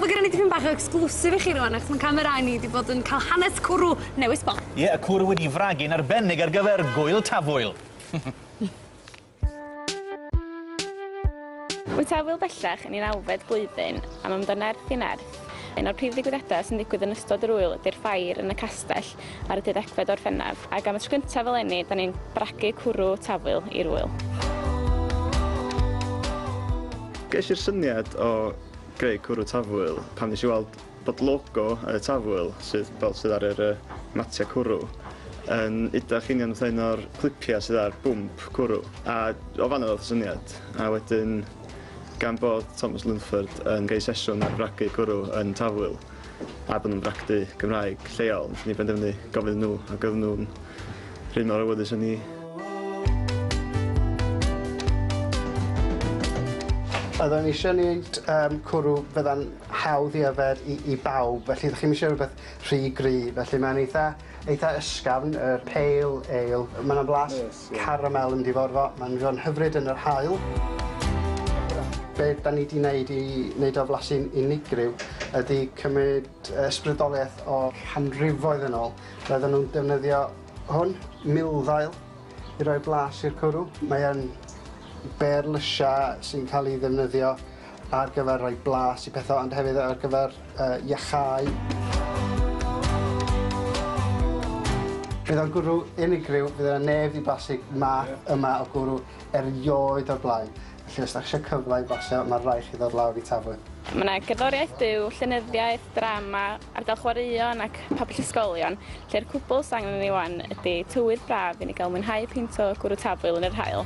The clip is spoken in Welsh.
Mae gennym ni dipyn bach o exclusive i chi rwan, achos mae'n camerau ni wedi bod yn cael hanes cwrw newydd sbon. Ie, yeah, y cwrw wedi fragu'n arbennig ar gyfer gwyl tafwyl. Wyt tafwyl bellach yn un awfed blwyddyn am ymddo nerth i nerth. Un o'r prif ddigwyddiadau sy'n digwydd yn ystod yr wyl ydy'r ffair yn y castell ar y deuddegfed o Orffennaf, ac am y tro cyntaf eleni, 'da ni'n bragu cwrw Tafwyl i'r ŵyl. Ges i'r syniad o greu cwrw Tafwyl pan nes i weld bod logo y Tafwyl, sydd fel sydd ar yr matiau cwrw, yn udach union fatha un o'r clipiau sydd ar bwmp cwrw, a o fan'na ddoth y syniad. A wedyn, gan bod Thomas Lundford yn gei sesiwn ar fragu cwrw yn Tafwyl, a bod nhw'n bragdy Cymraeg lleol, wnaethon ni benderfynu gofyn nhw ac oedden nhw'n rhy mor awyddus â ni. Oedden ni eisiau gwneud um, cwrw bydda'n hawdd i yfed i, i bawb, felly ydych chi'n eisiau rhywbeth rhy gry, felly mae'n eitha, eitha ysgafn, yr pale ale, mae'n blas Caramel yn diddorfo, mae'n mynd i fod yn hyfryd yn yr haul. Be da ni di neud i neud o flasu'n unigryw ydi cymryd ysbrydoliaeth o canrifoedd yn ôl. Roedden nhw'n defnyddio hwn, milddail, i roi blas i'r cwrw. Mae yn bêr lysia sy'n cael ei ddefnyddio ar gyfer rhoi blas i pethau ond hefyd ar gyfer yy iacháu. Bydd o'n gwrw unigryw, fydd yna neb 'di blasu math yma o gwrw erioed o'r blaen, felly os 'dach chi isio cyfle i blasio ma' raid chi ddod lawr i Tafwyl. Mae yna gerddoriaeth byw, llenyddiaeth, drama, ardal chwaraeon ac pabell ysgolion, lle'r cwbl sydd angen i ni wan ydi tywydd braf i ni gael mwynhau peint o gwrw Tafwyl yn yr haul.